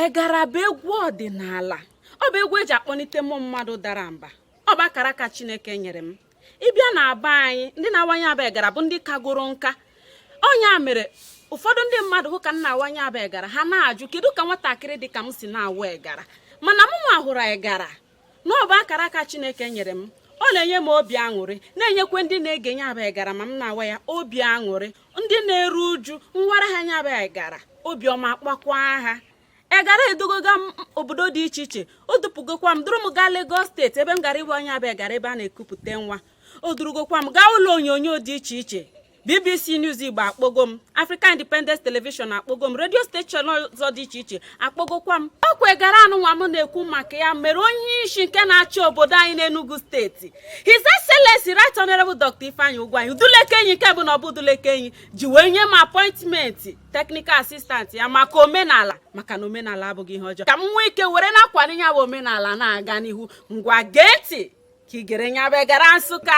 egara bụ egwu ọdịnala ọ bụ egwu eji akpọnite mmụọ mmadụ dara mba ọ bụ akara aka chineke nyere m ị bịa na be anyị ndị na-awa nya bụ egara bụ ndị kagoro nka ọ nya mere ụfọdụ ndị mmadụ hụ ka m na-awa nya bụ egara ha na-ajụ kedu ka nwatakịrị dị ka m si na-awa egara mana mụnwa hụrụ egara na ọ bụ akara aka Chineke nyere m ọ na-enye m obi aṅụrị na-enyekwa ndị na-ege nya bụ egara ma m na-awa ya obi aṅụrị ndị na-eru uju m wara ha nya bụ egara obiọma akpakwa ha egara edugoga m obodo dị iche iche o dupụgokwa m duru m gaa Lagos steeti ebe m gara ịwa nya bụ egara ebe a na-ekupụta nwa o durugokwa m gaa ụlọ onyonyo dị iche iche bbc news igbo akpọgo m african independence television akpọgo m radio station ọzọ dị iche iche akpọgokwa m ọ kwa egara anụnwa m na-ekwu maka ya mere onye isi nke na-achị obodo anyị n'enugu steeti his excellency right honorable dr ifeanyi ugwuanyi udulekenyi nke bụ na ọ bụ udulekenyi ji wee nye m appointment technical assistant ya maka omenala maka na omenala abụghị ihe ọjọọ ka m nwee ike were na-akwado nya bụ omenala na-aga n'ihu ngwa gee ntị ka ị gere nya bụ egara nsụka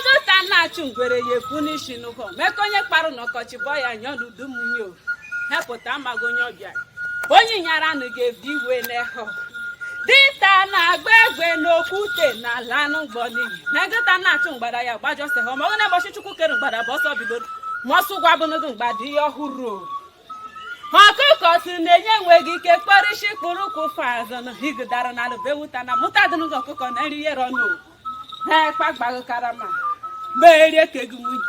ngụta na-achụ ngwere ya ekwu n'isi n'ụkọ ma nkụ onye kparụ n'ọkọchị bọ ya nyọ n'udu mmiri o hepụta amaghị onye ọbịa onye nyara nụ ga-ebi iwe n'ehọ dinta na-agba egbe n'okwute na-alanụ mgbọ n'iyi ngụta na-achụ mgbada ya gbajọ sị ha ma ọ na-egbochi chukwu kere mgbada bụ ọsọ bidoro ma ọsọ ụgwa bụnụdụ mgbada ihe ọhụrụ o ọkụkọ si na-enye enweghị ike kpọrọ isi kpụrụ ụkwụ fazụ na higidara na alụbewuta na mụta dịnụgị ọkụkọ na nri yere ọnụ ha ekpa gbaghị karama ma eri ekegị nwunye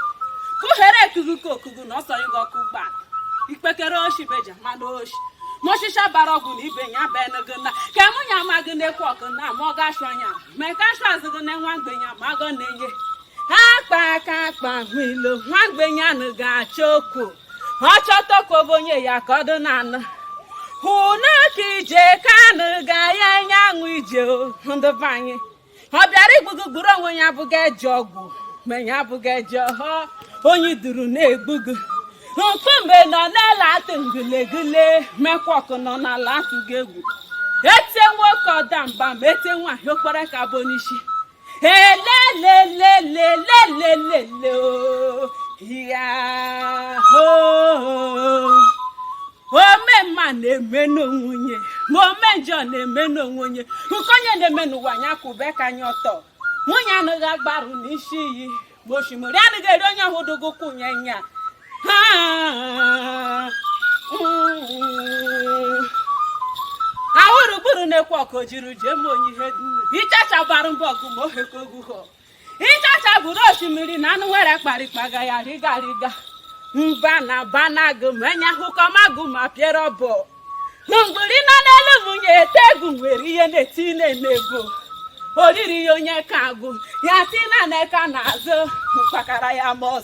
ka ohere ekugị ka okugu na ọsọ ịga ọkụ ụgbọala ikpekere oshi beja mana oshi ma ọchịcha bara ọgwụ na ibe ya bụ enugo na ka mụ nya ma gị na-ekwu ọkụ na ma ọ ga-achụ anya mee ka achụ azụ gị na nwa mgbenye ma agọ na-enye ha akpa aka akpa ahụ ilo nwa mgbenye anụ ga-achọ okwu ọ chọta okwu bụ onye ya ka ọ dị na anụ hụ na ka ije ka anụ ga ya enye anwụ ije o ndụ be anyị ọ bịara igbu gụ gburu onwe ya abụghị eji ogu ma ya abụghị eji ọhọ onye duru na-egbu gụ mkpume nọ n'ala atụ ngulegule ma ekwa ọkụ nọ n'ala atụ gị egwu etie nwoke ọ daa mba ma etie nwaanyị o kporo aka bụ n'isi elelelelelelelele o ya hoo ome mma na-eme n'onwe nye ma ome njọ na-eme n'onwe nye nke onye na-eme n'ụwa nya kwụbe aka nya ọtọ munyi anaghị agbarụ n'isi iyi ma osimiri anaghị eri onye ọ hụdụgụ ụkwụ nye nya ha ahụrụ gburu na-ekwe ọkụ jiri jee ma onye ihe dum ịchacha gbara mbọ ọgụ ma ohe ka ogu hụ ịchacha gburu osimiri na anụ nwere kparịkpaga ya rịgarịga mba na banagụ ma enye akụkọ magụ ma pịara ọbọ na mgburi nọ n'elu munyi ete egwu nwere ihe na-eti na-eme egwu oriri ya onye ka agụ ya tina na-eka n'azụ mkpakara ya mọz